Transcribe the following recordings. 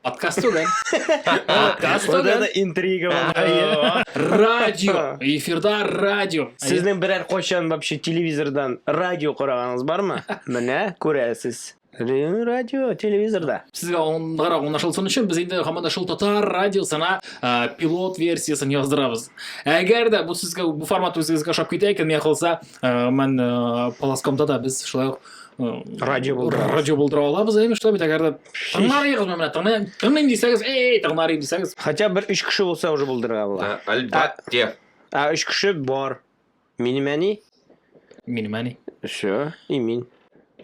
Подкаст түгел. Подкаст түгел. Интрига булды. Радио. Эфирда радио. Сезнең берәр кайчан вообще телевизордан радио караганыгыз бармы? Менә күрәсез. радио телевизорда сезгә аңгырак аңлашылсын өчен без инде һаман да шул татар радиосына пилот версиясын яздырабыз әгәр дә бу сезгә бу формат үзегезгә ошап китә икән миңа калса мен полоскомда да без шулай ук радио булдыра радио булдыра алабыз әйме шулай бит әгәр дә тыңларыгыз менә тыңлыйм тыңлыйм дисәгез эй тыңларым дисәгез хотя бы өч кеше булса уже булдырырга була әлбәттә ә өч кеше бар минем әни минем әни все и мин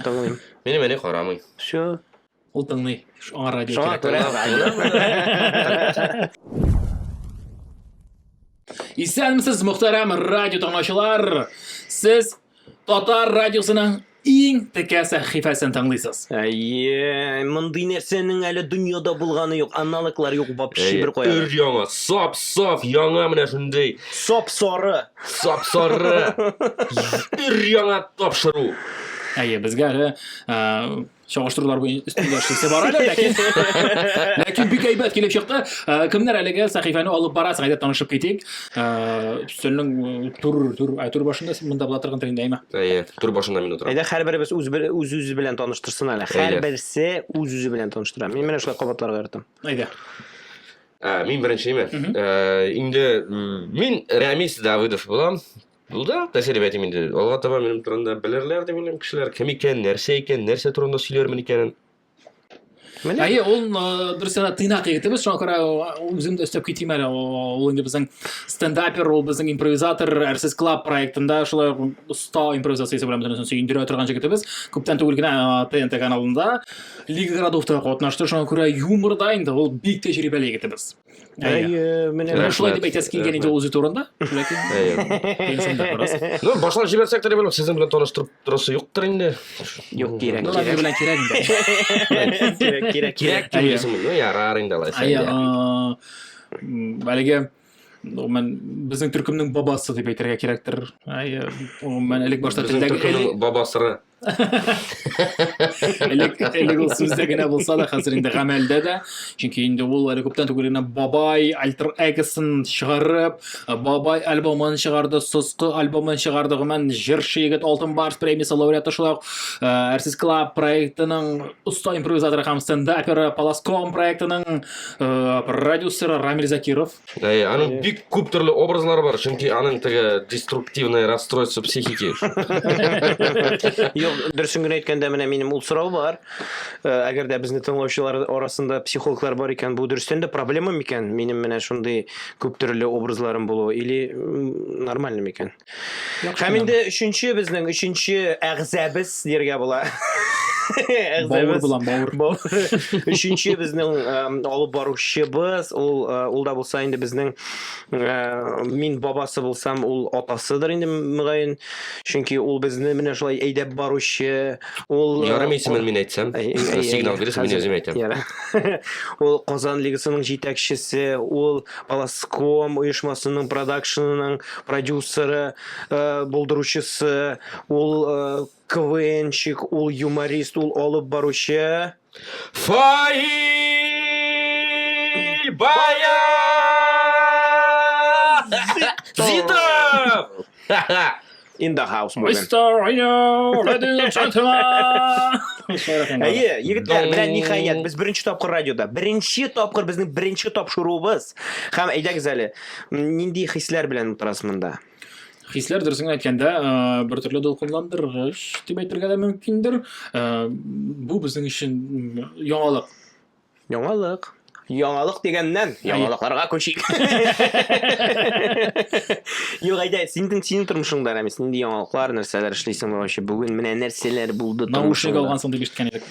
тыңлыйм минем әни карамый все Ул тыңлый. Шуңа радио Шуңа кирәк. күрә радио. Исәнмесез, мөхтәрәм радио тыңлаучылар! Сез Татар радиосының иң текә сәхифәсен тыңлыйсыз. Әйе, мондый нәрсәнең әле дөньяда булганы юк, аналоглар юк вообще бер Өр кая. яңа, сап сап яңа менә шундый Соп соры. сап сары өр яңа тапшыру. Әйе, безгә әле э, чагыштырулар өстендә эшлисе бар әле ләкин ләкин бик әйбәт килеп чыкты э, кемнәр әлеге сәхифәне алып барасың әйдә танышып китик э, өстәлнең э, түр түр ә түр башында син монда була торган тегендә әйме әйе түр башында мин утырам әйдә һәрберебез үз үз үзе белән таныштырсын әле һәрберсе үз үзе белән таныштыра мин менә шулай кабатларга яратам әйдә ә, мин беренчеме ә, инде мин рәмис давыдов булам Ну да, тәҗрибә әйтим инде. Алга таба минем турында белерләр дип уйлыйм кешеләр. Кем икән, нәрсә икән, нәрсә турында сөйләрмен икәнен. Менә. Әйе, ул дөрес генә тыйнак егетебез, шуңа күрә үзем дә өстәп китим әле. Ул инде безнең стендапер, ул безнең импровизатор, Әрсез клаб проектында шулай оста импровизациясе белән бөтенесен сөендерә торган егетебез. Күптән түгел генә ТНТ каналында Лига городовта катнашты, шуңа күрә юморда инде ул бик тәҗрибәле егетебез. менә шулай дип әйтәсе килгән иде ул үзе турында ләкин башлап җибәрсәк тә белмим сезнең белән таныштырып торасы юктыр инде юк кирәк кирәк белән кирәк инде кирәк кирәк кирәк ну ярар инде алайса әлеге гомумән безнең төркемнең бабасы дип әйтергә кирәктер гомумән элек башта телдәге бабасыры элек элек ул сүздә генә булса да хәзер инде гамәлдә дә чөнки инде ул әле күптән түгел генә бабай альтер эгосын чыгарып бабай альбомын чыгарды соскы альбомын чыгарды гомумән җырчы егет алтын барс премиясе лауреаты шулай ук әрсез клаб проектының оста импровизаторы һәм стендаперы паласком проектының продюсеры рамиль закиров Әй, аның бик күп төрле образлары бар, чөнки аның теге деструктивный расстройство психики. Юк, дөресен генә әйткәндә, менә минем ул сорау бар. Э, әгәр дә безне тыңлаучылар арасында психологлар бар икән, бу дөрестән дә проблема микән? Минем менә шундый күп төрле образларым булу или нормально микән? Яхшы Һәм инде өченче безнең өченче әгъзәбез дияргә була. Бауыр булам, бауыр. Өченче безнең алып баручыбыз, ул ул да булса инде безнең мин бабасы булсам, ул атасыдыр инде мөгаен. Чөнки ул безне менә шулай әйдәп баручы, ул Ярым исемен мин әйтсәм, сигнал бирсә мин үзем әйтәм. Ул Казан лигасының җитәкчесе, ул Аласком оешмасының продакшнының продюсеры, э, булдыручысы, ул э, КВНчик, ул юморист, ул алып баручы. Фаил Бая! Зидов! In the house moving. Mr. Rio, ladies and gentlemen! Әйе, егетләр, менә ниһаять, без беренче тапкыр радиода. Беренче тапкыр безнең беренче тапшыруыбыз. Һәм әйдәгез әле, Нинди хисләр белән утырасыз монда? Хисләр дөресен генә әйткәндә, э, бер төрле дулкынландыргыч дип әйтергә дә мөмкиндер. Э, бу безнең өчен м, яңалык. Яңалык. Яңалык дигәннән, яңалыкларга күчик. Юк, әйдә, синең синең тормышыңда, Рәмис, нинди яңалыклар, нәрсәләр эшлисең вообще? Бүген менә нәрсәләр булды Наушник тормышыңда? алгансың дип ишеткән идек.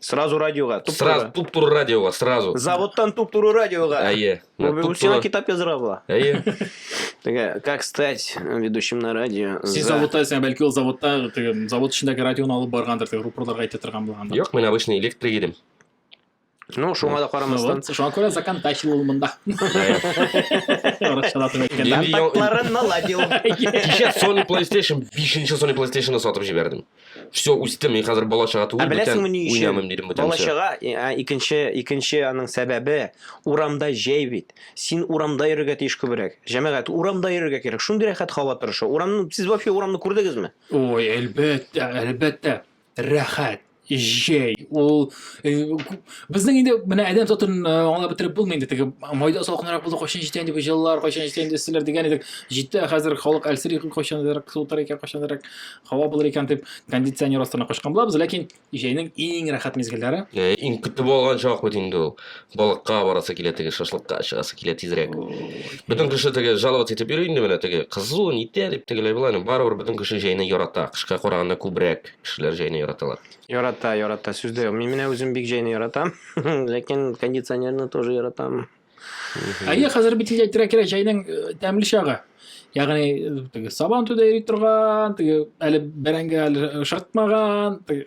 Сразу радиоға, туп Сразу туры. туп туры радиоға, сразу. Заводтан туп туры радиоға. Әйе. Мә, Бу туп сиңа туры. китап яздыра була. Әйе. Теге, как стать ведущим на радио. Син за- заводта сен бәлки ул заводта теге завод эчендәге радионы алып баргандыр, теге рупорларга әйтә торган булгандыр. Юк, мин обычный электрик идем. Ну, шуңа да Ну карамастан. вот, Шуңа күрә закан тащил ул мында. Әйе. Аракчалатып Ди- әйткәндә. Контактларын наладил. Кичә Sony PlayStation 5-нче Sony PlayStation-ны сатып җибәрдем. все үстем мин хәзер бала чага түгел бүтән уйнамыйм дидем бүтән бала чага икенче икенче аның сәбәбе урамда җәй бит син урамда йөрергә тиеш күбрәк җәмәгать урамда йөрергә кирәк шундый рәхәт һава торышы урамны сез вообще урамны күрдегезме ой әлбәттә әлбәттә рәхәт җәй ул э, безнең инде менә адәм затын э, аңлап бетереп булмый инде теге майда салкынрак булды кайчан җитә инде бу җылылар кайчан җитә инде силәр дигән идек җитә хәзер халык әлсери кайчанрак суытыр икән кайчанрак һава булыр икән дип кондиционер астына качкан булабыз ләкин җәйнең иң рәхәт мизгелләре Ә, иң көтеп алган чак бит инде ул балыкка барасы килә теге шашлыкка чыгасы килә тизрәк бөтен кеше теге жаловаться итеп йөри инде менә теге кызу нитә дип тегеләй болай ну барыбер бөтен кеше җәйне ярата кышка караганда күбрәк кешеләр җәйне яраталар Ярата, ярата, сүз дә юк. Мин менә үзем бик җәйне яратам, ләкин кондиционерны тоже яратам. Әйе, хәзер бит инде әйтергә кирәк, җәйнең э, тәмле чагы. Ягъни э, теге сабан төдә йөри торган, теге әле бәрәңге әле шартмаган, теге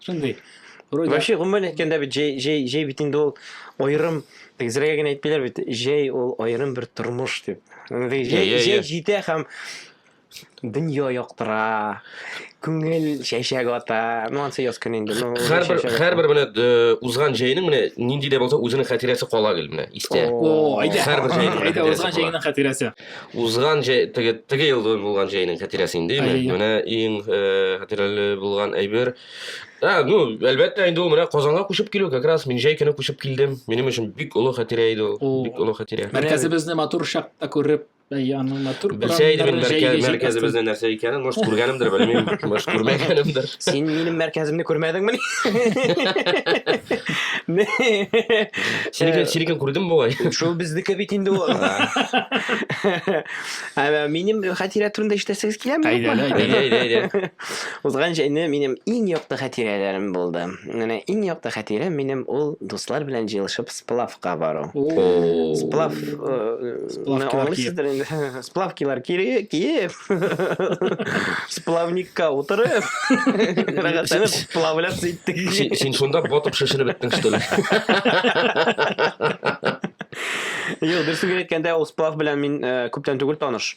шундый. Вообще, гомумән әйткәндә бит җәй җәй җәй бит инде ул аерым тегезрәгә генә әйтмиләр бит, җәй ул аерым бер тормыш дип. Җәй җәй җитә һәм дөнья яктыра, күңел чәчәк ата. Ну, ансы яз көне инде. Ну, Һәрбер чәчәк ата. һәрбер менә д- э, узган җәйнең менә нинди дә булса үзенең хатирәсе кала гел менә истә. О, О, әйдә. Һәрбер җәйнең Әйдә, хатирәсе узган була. җәйнең хатирәсе. Узган җәй теге теге ел булган җәйнең хатирәсе инде Әйе, әйе. менә иң э, хатирәле булган әйбер. А, ну, әлбәттә инде ул менә Казанга күчеп килү как раз мин җәй көне күчеп килдем. Минем өчен бик олы хатирә иде О. ул. Бик олы хатирә. Мәркәзебезне матур чакта күреп, Белсә иде мин мәркәзебезнең нәрсә икәнен, может, күргәнемдер, белмим, может, күрмәгәнемдер. Син минем мәркәземне күрмәдеңме? Синекен, синекен күрдем бугай. Шул безнеке бит инде ул. Әмма минем хатирә турында ишетәсегез киләме? Әйдә, әйдә, әйдә. Узган җәйне минем иң якты хатирәләрем булды. Менә иң якты хатирәм минем ул дуслар белән җыелышып сплавка бару. Сплав аңлыйсыздыр инде. Сплавкилар киеп, сплавникка утырып, рәхәтләнеп сплавляться иттек. Син шунда батып шешенеп беттең, что ли? Юк, дөресен генә әйткәндә, ул сплав белән мин э, күптән түгел таныш.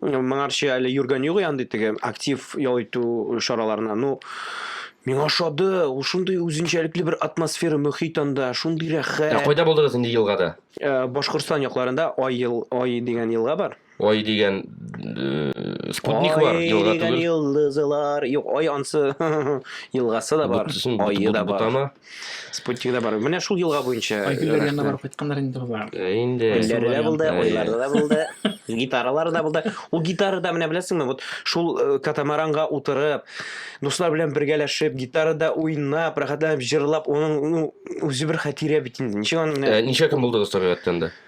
Моңарчы әле йөргән юк янды теге актив ял итү чараларына. Ну, Миңа ошады, ул шундый үзенчәлекле бер атмосфера, мөхит анда, шундый рәхәт. Ә кайда булдыгыз инде елгада? Э, Башкортстан якларында Ай ел, Ай дигән елга бар. Ай дигән э, спутник Ай бар, елга дигән түгел. йолдызлар. Юк, Ай ансы елгасы да бар, Бутсын, бут- айы бут- да бар. бутама. Спутник да бар. Менә шул елга буенча. Айгөлләр янына барып кайтканнар инде болар. Э, инде. Гөлләре дә булды, уйлары да булды, гитаралары да булды. Ул гитара да менә беләсеңме, вот шул э, катамаранга утырып, дуслар белән бергәләшеп, гитарада уйнап, рәхәтләнеп җырлап, оның ну, үзе бер хәтирә бит инде. Ничек аны менә... Э, ничә көн булдыгыз табигатьтән дә?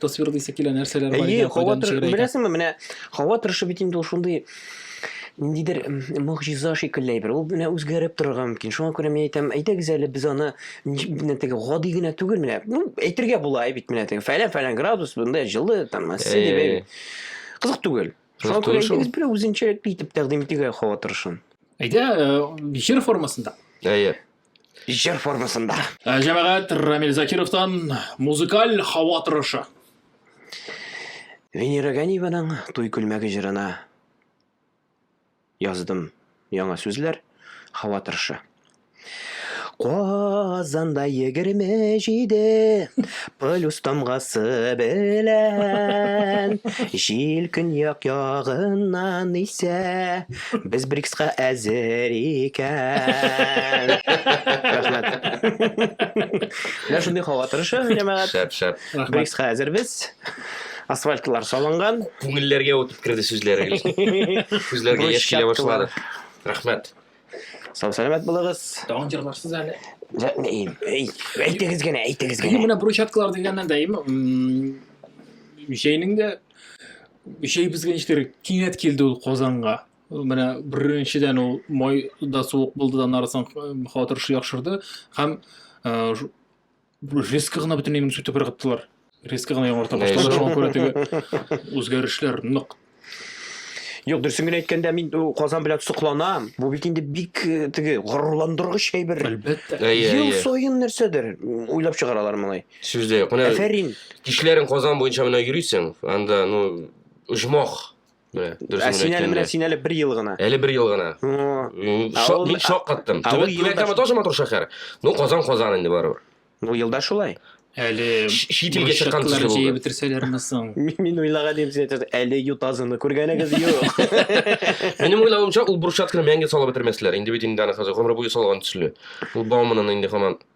тасвир дисә килә нәрсәләр бар икән кайдан төшерә беләсеңме менә һава торышы бит инде ул шундый ниндидер могҗиза шикелле әйбер ул менә үзгәреп торырга мөмкин шуңа күрә мин әйтәм әйдәгез әле без аны менә теге гади генә түгел менә ну әйтергә була бит менә теге фәлән фәлән градус монда җылы там э. кызык түгел шуңа күрә әйдәгез берәү үзенчәлекле итеп тәкъдим итегә һава торышын әйдә э, җыр формасында әйе Җыр формасында. Ә, җәмәгать Рамил Закировтан музыкаль һава торышы. Венера Ганиеваның Туй күлмәге җырына яздым яңа сүзләр, һава торышы. Казанда егерме җиде плюс тамгасы белән Җил көньяк ягыннан исә Без БРИКСка әзер икән. Рәхмәт. Менә шундый һава торышы, җәмәгать. Шәп, шәп. БРИКСка әзербез. Асфальтлар салынган. Күңелләргә үтеп керде сүзләре. Күзләргә яшь килә башлады. Рәхмәт. Сау сәламәт булыгыз. Тагын җырларсыз әле. Әйтегез генә, әйтегез генә. Менә брусчаткалар дигәннән дә, җәйнең дә Җәйбезгә ничектер кинәт килде ул Казанга. Менә беренчедән ул майда суык булды да аннары соң хатыр шуяк шырды һәм резко гына бөтенләй минем сүтеп ыргыттылар. Резко гына яңарта башлады. Шуңа күрә теге үзгәрешләр нык Юк, дөресен генә әйткәндә мин Казан белән сокланам. Бу бит инде бик теге горурландыргыч әйбер. Әлбәттә. Ел саен нәрсәдер уйлап чыгаралар моны. Сүз дә юк. Менә Әфәрин. Кичләрен Казан буенча менә йөрисең, анда ну оҗмах. Менә дөрес ә син әле менә син әле бер ел гына. Әле бер ел гына. Шок, мин шок каттым. Түбән Кама тоже матур шәһәр. Ну Казан Казан инде барыбер. Ну елда шулай. Әле чит илгә чыккан төсле булды. Җыеп бетерсәләрме соң? Мин уйлаган идем, сез әйтәсез, әле ютазыны күргәнегез юк. Минем уйлавымча, ул брусчатканы мәңге салып бетермәсләр. Инде бит инде аны хәзер гомер буе салган төсле. Ул бауманын инде һаман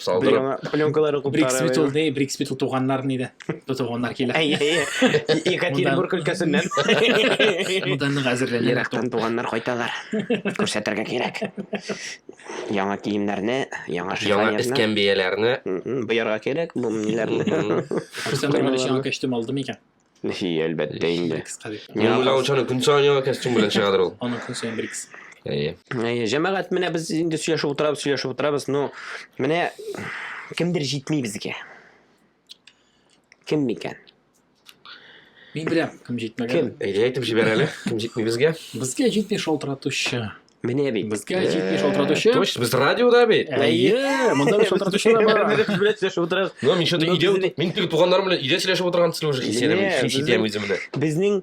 Салдырып. Яңа пленкалары Брикс бит ул куптарып. не, Брикс бит ул туганнар нидә. Бу туганнар килә. Әй, әй, әй. Екатеринбург өлкәсеннән. Монда нык әзерләнә. Ерактан туганнар кайталар. Күрсәтергә кирәк. Яңа киемнәрне, яңа Яңа шифоньерны. эскәмбияләрне. Мгм, Боярга кирәк бу ниләрне. Мгм. Күрсәм, Каймалар. Яңа костюм алды микән? Нәфи, әлбәттә инде. Мин уйлавым шуны көн саен яңа костюм белән чыгадыр ул. Аны көн саен бер икесе. Әйе. Әйе, җәмәгать менә без инде сөйләшеп утырабыз, сөйләшеп утырабыз, но менә кемдер җитми безгә. Кем микән? Мин беләм, кем җитмәгән. Кем? Әйдә әйтеп җибәр әле, кем җитми безгә? Безгә җитми шалтыратучы. Менә бит. Безгә 70 шалтыратучы. Точно, без радиода бит. Әйе, монда бит шалтыратучы да бар. Менә без белән сөйләшеп утырабыз. Ну, мин шундый идея, мин теге туганнарым белән идея сөйләшеп утырган төсле уже хисәдәм, хис итәм үземне. Безнең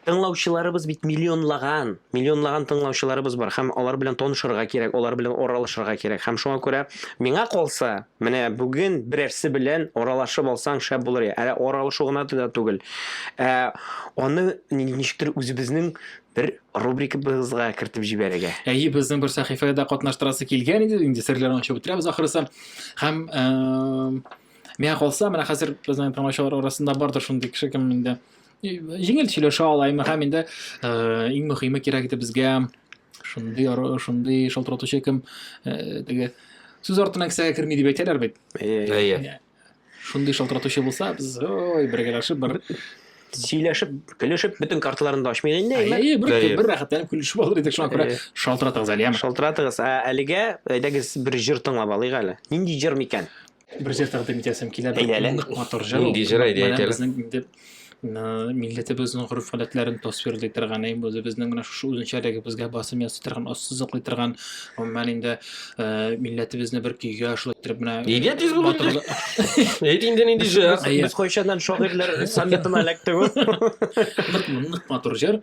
тыңлаучыларыбыз бит миллионлаган, миллионлаган тыңлаучыларыбыз бар һәм алар белән танышырга кирәк, алар белән аралашырга кирәк. Һәм шуңа күрә миңа калса, менә бүген берәрсе белән аралашып алсаң шәп булыр. Әле аралашу гына да түгел. Ә аны ничектер үзебезнең бер рубрикабызга кертеп җибәрергә. Әйе, безнең бер сәхифәгә дә катнаштырасы килгән иде, инде серләрен ачып бетерәбез ахрысы. Һәм э, миңа калса, менә хәзер безнең тыңлаучылар арасында бардыр шундый кеше кем инде җиңел сөйләшә ала, әмма һәм инде э, иң мөһиме кирәк иде безгә шундый шундый шалтыратучы кем э, теге сүз артына кесәгә керми дип әйтәләр бит. Әйе. Шундый шалтыратучы булса, без ой, бергәләшеп бер сөйләшеп, көлешеп, бөтен карталарын да ачмыйк инде. Әйе, бер, бер рәхәтләнеп көлешеп алыр идек, шуңа күрә шалтыратыгыз әле, яме. Шалтыратыгыз. Ә әлегә әйдәгез бер җыр тыңлап алыйк әле. Нинди җыр микән? Бер җыр тәкъдим итәсем килә, бер нык матур җыр. Нинди җыр әйдә әйтәле. Безнең инде милләтебезнең гореф гадәтләрен тасвирлый торган әй үзебезнең менә шушы үзенчәлегебезгә басым ясый торган ассызыклый торган гомумән инде милләтебезне бер көйгә шулай итеп менә нигә тиз булды әйт инде нинди җыр без кайчаннан шагыйрьләр саммитына эләктек ул нык матур җыр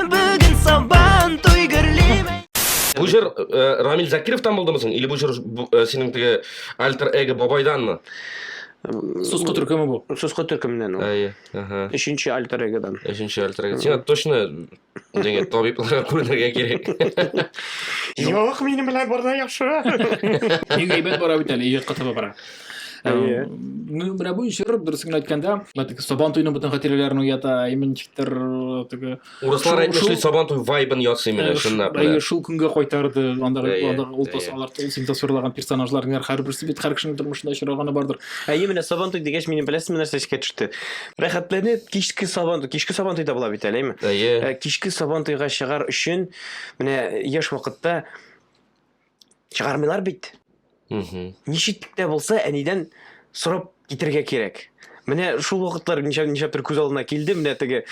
Бүген сабан туй гөрлиме. Бу җыр э, Рамил Закировтан булдымы соң? Или бу җыр бу, э, синең теге альтер эго бабайданмы? Суску төркеме бу. Суску төркеменнән ул. Әйе. Ага. Өченче альтер эгодан. Өченче альтер эго. Сиңа точно дигән табибларга күренергә кирәк. Юк, минем белән барда яхшы. Бик әйбәт бара бит әле, иҗатка таба бара. Э, ну, менә бу җыр, дөрес генә әйткәндә, теге Сабан туйның бөтен хатирәләрен уята, иминчиктер э, теге. Урыслар әйтмешли Сабан туй вайбын ясый менә э, шунда. Әйе, шул көнгә кайтарды, андагы андагы ул тасалар, ул син тасвирлаган персонажларның һәрберсе бит һәр кешенең тормышында очраганы бардыр. Әйе, менә Сабан туй дигәч, минем беләсезме нәрсә искә төште? Рәхәтләнеп кичке Сабан туй, кичке Сабан туйда була бит әлеме? Әйе. Кичке Сабан туйга чыгар өчен менә яшь вакытта чыгармыйлар бит. Ничек тә булса әнидән сорап китерергә кирәк. Менә шул вакытлар ничә ничә төр күз алдына килде, менә теге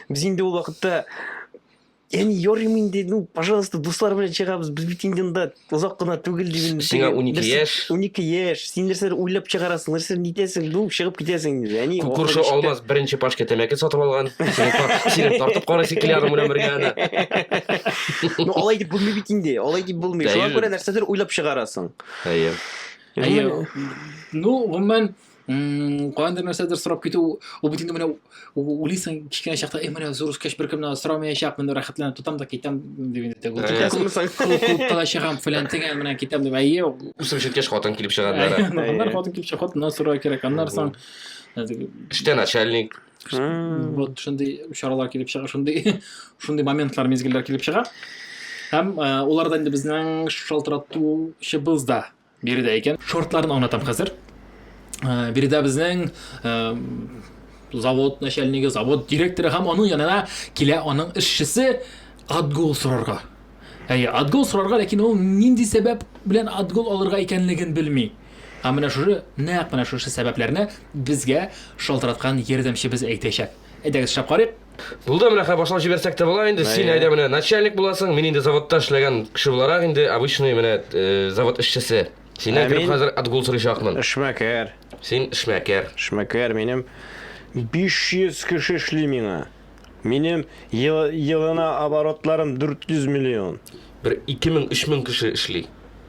без инде ул вакытта Яни йорим инде, ну, пожалуйста, дуслар белән чыгабыз, без бит инде анда озак кына түгел диген. Сиңа 12 яшь. 12 яшь. Син нәрсәдер уйлап чыгарасың, нәрсәдер нитәсең, бу чыгып китәсең инде. Әни Кү- Күрше ахыры Алмаз беренче пачка тәмәке сатып алган. Сине тар- сине тартып карыйсы килә аның белән бергә аны. чиктә. Ну, алай дип булмый бит инде. Алай дип булмый. Әйе. Шуңа күрә нәрсәдер уйлап чыгарасың. Әйе. Әйе. Ну, гомумән, м, каяндыр нәрсәдер сорап китү, ул бит инде менә Уйлыйсың, кечкенә чакта, эй, менә зур үскәч беркемнән сорамаячакмын, рәхәтләнеп тотам да китәм дип инде. Клубка да чыгам, фәлән тегән менән китәм дип. Әйе. Үсеп җиткәч хатын килеп чыга диләр. Аннар хатын килеп чыга, хатыннан сорау кирәк. Аннар соң эштә начальник. Вот шундый чаралар килеп чыга, шундый шундый моментлар, мизгелләр килеп чыга. Һәм э, уларда инде безнең шалтыратучыбыз да Биредә икән. Шортларын аңлатам хәзер. Э, биредә безнең э, завод начальнигы, завод директоры һәм аның янына килә аның эшчесе отгул сорарга. Әйе, отгул сорарга, ләкин ул нинди сәбәп белән отгул алырга икәнлеген белми. Ә менә шушы, нәкъ менә шушы сәбәпләрне безгә шалтыраткан ярдәмчебез әйтәчәк. Әйдәгез, шәп карыйк. Булды менә хәзер башлап җибәрсәк тә була инде. Син әйдә менә начальник буласың. Мин инде заводта эшләгән кеше буларак инде обычный менә э, завод эшчесе. Синнән кереп хәзер отгул сорыйчакмын. Эшмәкәр. Син эшмәкәр. Эшмәкәр минем 500 кеше эшли миңа. Минем елына оборотларым 400 миллион. Бер 2000-3000 кеше эшли.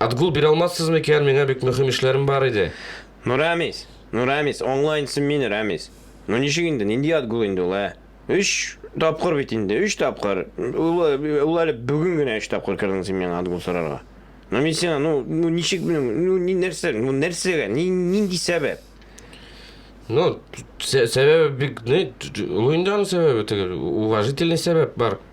Отгул бирә алмассыз микән, миңа бик мөхим эшләрем бар иде. Ну, Рәмис! Ну, Рәмис, аңла инде син мине, Рәмис! Ну, ничек инде, нинди отгул инде ул, ә? Өч тапкыр бит инде, өч тапкыр! Ул, ул әле бүген генә өч тапкыр кердең син миңа отгул сорарга. Ну, мин сиңа, ну, ну, ничек, ну, ну, ни, нәрсә, ну, нәрсәгә, ни, нинди сәбәп? Ну, сәбәбе бик, ну, ул инде аның сәбәбе, теге, уважительный сәбәп бар.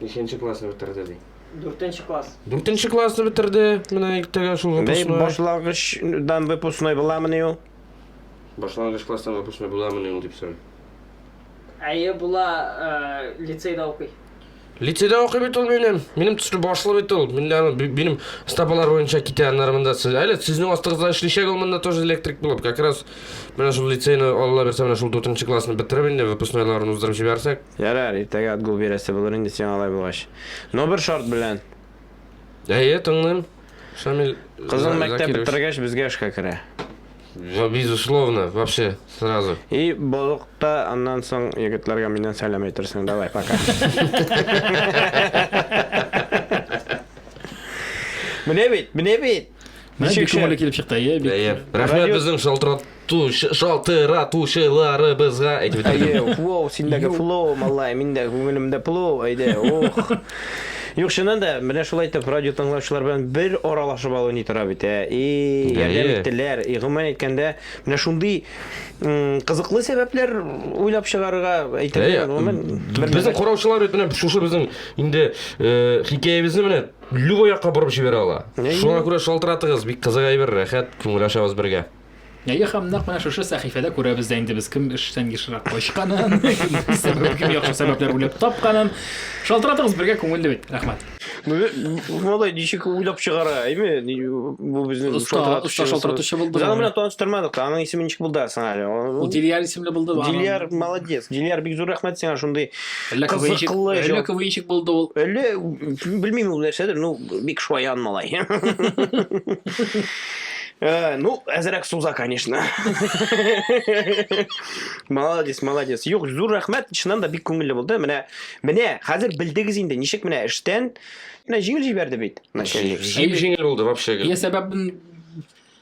Ниченче класны бетерде ди? Дүртенче класс. Дүртенче классны бетерде. Менә иртәгә шул Бәй, выпускной. башлангычдан выпускной буламыни ул? Башлангыч класстан выпускной буламыни ул дип сорый. Әйе, була э, лицейда укый. Лицейда укый бит ул минем. Минем төсле башлы бит ул. Мин аны- би- минем стапалар буенча китә аннары монда. Сез- Әле сезнең астыгызда эшличәк ул монда тоже электрик булып. Как раз менә шул лицейны Алла бирсә менә шул дүртенче классны бетереп инде выпускнойларын уздырып җибәрсәк. Ярар, иртәгә отгул бирәсе булыр инде сиңа алай булгач. Но бер шарт белән. Әйе, тыңлыйм, Шамил Кызың мәктәп Закирович. бетергәч, безгә эшкә керә. Ва, Безусловно, вообще, сразу. И болыкта аннан соң егетләргә миннән сәлам әйтерсең. Давай, пока. Менә бит, менә бит! Менә бик Ничек шәп! күңелле килеп чыкты, әйе, бик. Әйе. Рәхмәт Радио- безнең шалтырат. Туш, шалтыратучыларыбызга әйтеп бетердем. Әйе, флоу, синдәге флоу, малай, миндә күңелемдә плоу, әйдә, ух. Юк, чыннан да, менә шулай итеп радио тыңлаучылар белән бер аралашып алу ни тора бит, ә? И, ярдәм иттеләр. И, гомумән әйткәндә, менә шундый кызыклы сәбәпләр уйлап чыгарырга әйтергә, гомумән, бер Безнең караучылар бит менә шушы безнең инде хикәябезне менә любой якка борып җибәрә ала. Шуңа күрә шалтыратыгыз, бик кызык әйбер, рәхәт, күңел ачабыз бергә. Әйе, һәм нәкъ менә шушы сәхифәдә күрәбез дә инде без кем эштән ешрак качканын, кем сәбәп, кем яхшы сәбәпләр уйлап тапканын. Шалтыратыгыз, бергә күңелле бит. Рәхмәт. Малай ничек уйлап чыгара, әйме? Бу безнең шалтыратучы. Шалтыратучы булды. Без аны белән таныштырмадык. Аның исеме ничек булды соң әле? Ул Дилияр исемле булды. Дилияр молодец. Дилияр бик зур рәхмәт сиңа шундый кызыклы. Әллә квнчик булды ул. Әллә белмим ул нәрсәдер, ну бик шаян малай. Э, ну, әзерәк суза, конечно. Молодец, молодец. Юк, зур рәхмәт, чыннан да бик күңелле булды. Менә, менә хәзер белдегез инде, ничек менә эштән, менә җиңел җибәрде бит. Начальник. Җиң- Җиңел булды вообще. Я сәбәбен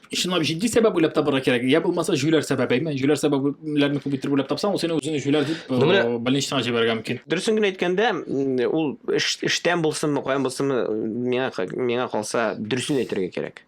чынлап җитди сәбәп уйлап табарга кирәк. Я булмаса җүләр сәбәбе, әйме? Җүләр сәбәпләрне күп итеп уйлап тапсаң, ул сине үзең җүләр дип Ну, менә- э, больничныйга җибәрергә мөмкин. Дөресен генә әйткәндә, м, ул эш- эштән булсынмы, каян булсынмы, миңа ка- миңа калса, дөресен әйтергә кирәк.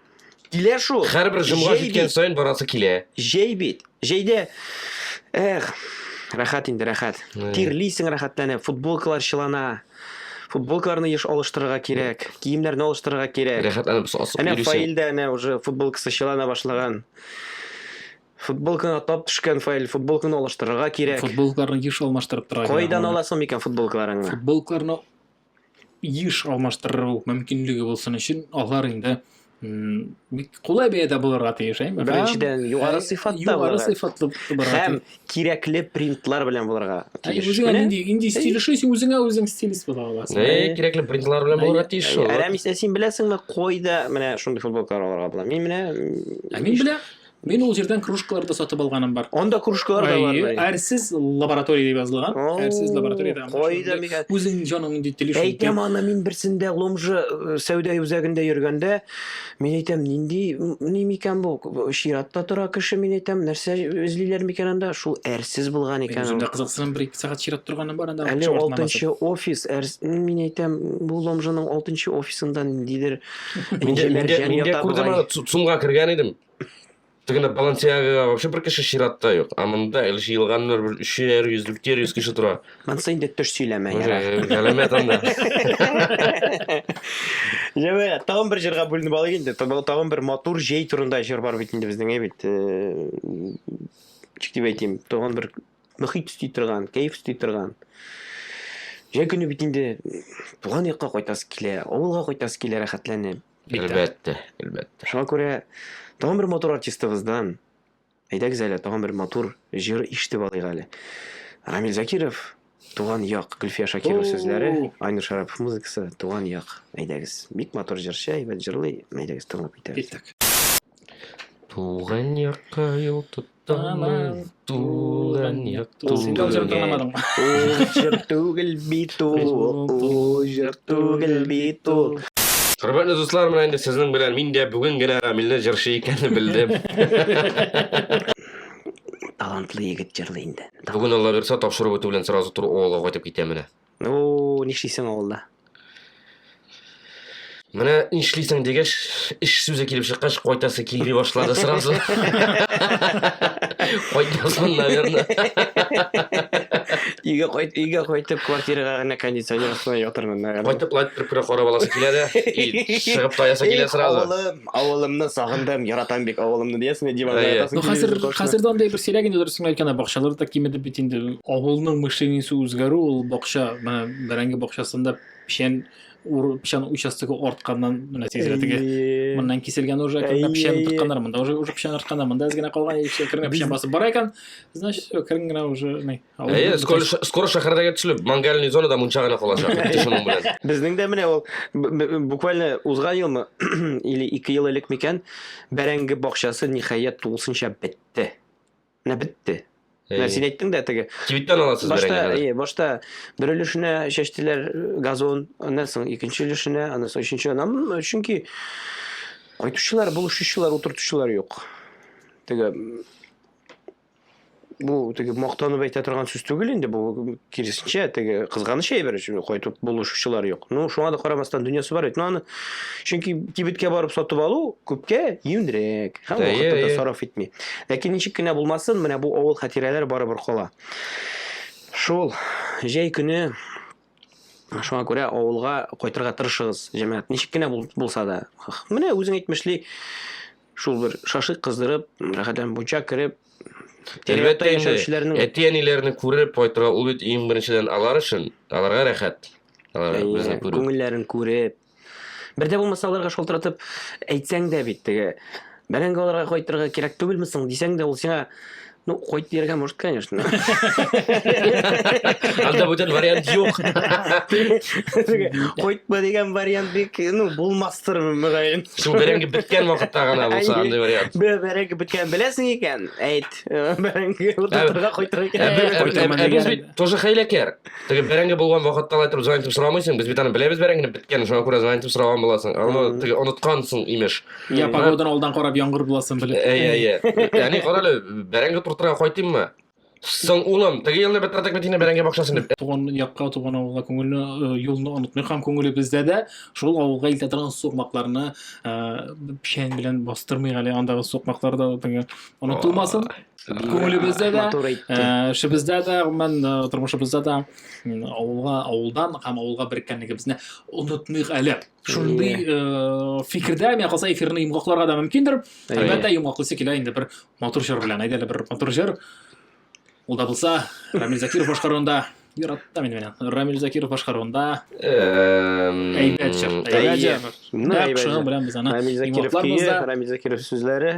Килә шул. Һәрбер җомга җиткән саен барасы килә. Җәй бит. Җәйдә эх, рәхәт инде, рәхәт. Тирлисең рәхәтләнеп, футболкалар чылана. Футболкаларны еш алыштырырга кирәк, киемнәрне алыштырырга кирәк. Рәхәтләнеп сасып йөрисең. Әнә Фаилдә әнә уже футболкасы чылана башлаган. Футболканы атлап төшкән Фаил, футболканы алыштырырга кирәк. Футболкаларны еш алмаштырып торырга кирәк. Кайдан аласың микән футболкаларыңны? Футболкаларны еш алмаштыру мөмкинлеге булсын өчен алар инде бик кулай бәядә булырга тиеш әйме беренчедән югары сыйфатта югары сыйфатлы һәм кирәкле принтлар белән булырга тиеш үзеңә нинди нинди стиль эшлисең син үзеңә үзең стилист була аласың әй кирәкле принтлар белән булырга тиеш шул әрәмисә син беләсеңме кайда менә шундый футболкалар алырга була мин менә ә мин беләм Мин ул җирдән кружкалар да сатып алганым бар. Анда кружкалар да бар. Әйе, әрсез лаборатория дип язылган. Әрсез лабораториядә. Кайда микән? Үзең җаның нинди телиш. Әйтәм аны мин берсендә Ломжа э, сәүдә үзәгендә йөргәндә, мин әйтәм, нинди ни микән бу? Чиратта тора кеше, мин әйтәм, нәрсә эзлиләр микән анда? Шул әрсез булган икән. Үземдә кызыксынам, бер ике сәгать чират торганым бар анда. Әле 6 офис, мин әйтәм, бу Ломжаның 6 офисында ниндидер Миңгә күрдем аны, цумга кергән идем. Тегенә Балансиагага вообще бер кеше чиратта юк. Ә монда әле җыелганнар бер 300, 400 кеше тора. Монсы инде төш сөйләмә яра. Галәмәт анда. Җәмә, тагын бер җырга бүленеп алыйк инде. Тагын бер матур җәй турында җыр бар бит инде безнең, әйбит. Чик дип әйтим, тагын бер мохит өсти торган, кәеф өсти торган. Җәй көне бит инде туган якка кайтасы килә, авылга кайтасы килә рәхәтләнеп. Әлбәттә, әлбәттә. Шуңа күрә тагын бер матур артистыбыздан әйдәгез әле тагын бер матур җыр ишетеп алыйк әле. Рамил Закиров Туган як, Гөлфия Шакирова сүзләре, Айнур Шарапов музыкасы, Туган як. Әйдәгез. Бик матур җырчы, әйбәт җырлый. Әйдәгез, тыңлап китәбез. Киттек. Туган якка юл тот. Тамыр тулын якту. Син дә үзең тыңламадың. Ул җыр түгел бит ул, ул җыр түгел бит ул. Хөрмәтле дуслар, менә инде сезнең белән мин дә бүген генә Рамилне җырчы икәнне белдем. Талантлы егет җырлый инде. Бүген Алла бирса, тапшыру бетү белән сразу туры Оалга кайтып китә менә. О, нишлисең авылда? Менә нишлисең дигәч, эш сүзе килеп чыккач, кайтасы килми башлады сразу. Кайтмасын, наверное. Өйгә кайт, өйгә кайтып, квартирага гына кондиционер астына ятырмын, наверное. Кайтып лайт бер күрә карап аласы килә дә, и чыгып таясы килә сразу. Авылымны сагындым, яратам бик авылымны диясең, диванда Әйе. ятасың. Ну, хәзер, телевизор каршында. хәзер дә андый бер сирәк инде дөресен әйткәндә, бакчалар да кимеде бит инде. Авылның мышлениесе үзгәрү, ул бакча, менә бәрәңге бакчасында печән ур, печән участогы артканнан, менә тизрәк теге Әйе. моннан киселгән уже кергән печән Әйе. тотканнар, монда уже уже печән артканнар, монда әз генә калган, яшь кергән печән басып бара икән, значит, все, кергән генә уже, не. Әйе, скоро, скоро шәһәрдә китүлек мангальный зонада мунча гына калачак. Шуның белән. Безнең дә менә ул буквально узган елмы или ике ел элек микән бәрәңге бакчасы ниһаять тулысынча бетте. Менә бетте. Менә син әйттең дә теге. Кибеттән аласыз башта, бәрәңгене. Әйе, башта бер өлешенә чәчтеләр газон, аннан соң икенче өлешенә, аннан соң өченче. Аннан чөнки кайтучылар, булышучылар, утыртучылар юк. Теге бу теге мактанып әйтә торган сүз түгел инде бу киресенчә теге кызганыч әйбер өчен кайтып булышучылар юк ну шуңа да карамастан дөньясы бар бит ну аны чөнки кибеткә барып сатып алу күпкә юньрәк һәм вакытын да сарыф итми ләкин ничек кенә булмасын менә бу авыл хатирәләре барыбер кала шул җәй көне шуңа күрә авылга кайтырга тырышыгыз җәмәгать ничек кенә булса да менә үзең әйтмешли Шул бер шашлык кыздырып, рәхәтләнеп мунча кереп, Әлбәттә инде, әти-әниләрне күреп кайтырга ул бит иң беренчедән алар өчен, аларга рәхәт. Алар безне күреп. Күңелләрен күреп. Бердә булмаса аларга шалтыратып әйтсәң дә бит теге бәрәңге аларга кайтырга кирәк түгелме соң дисәң дә ул сиңа Ну, хоть не может, конечно. Анда бүтән вариант юк. Хоть бы дигән вариант бик, ну, булмастыр мөгаен. Шул бәрәңге беткән вакытта гына булса андый вариант. Бе бәрәңге беткән беләсең икән, әйт. Бәрәңге утыртырга кайтырга кирәк. Ә без бит тоже хәйләкәр. Теге бәрәңге булган вакытта алай торып звонить сорамыйсың, без бит аны беләбез бәрәңгене беткән, шуңа күрә звонить сораган буласың. Аны теге оныткансың, имеш. Я погоданы алдан карап яңгыр буласын белеп. Әйе, әйе. Яни карале, бәрәңге туртырга кайтыйммы? Соң улым, теге елны бетратак бит инде бәрәңге бакчасын дип. Туган якка, туган авылга күңелне, э, юлны онытмый һәм күңеле бездә дә шул авылга илтә торган сукмакларны э, печән белән бастырмый әле андагы сукмаклар да теге онытылмасын. Күңелебездә дә, э, эшебездә дә, гомумән тормышыбызда да авылга, авылдан һәм авылга береккәнлегебезне онытмыйк әле. шундый э, фикердә миңа калса эфирны йомгакларга да мөмкиндер әлбәттә йомгаклыйсы килә инде бер матур җыр белән әйдә әле бер матур җыр ул да булса рамил закиров башкаруында яратта мин менә рамил закиров башкаруында әйбәт җыр әйбәт җыр менә әйбәт җыр белән без аны рамил закиров рамил закиров сүзләре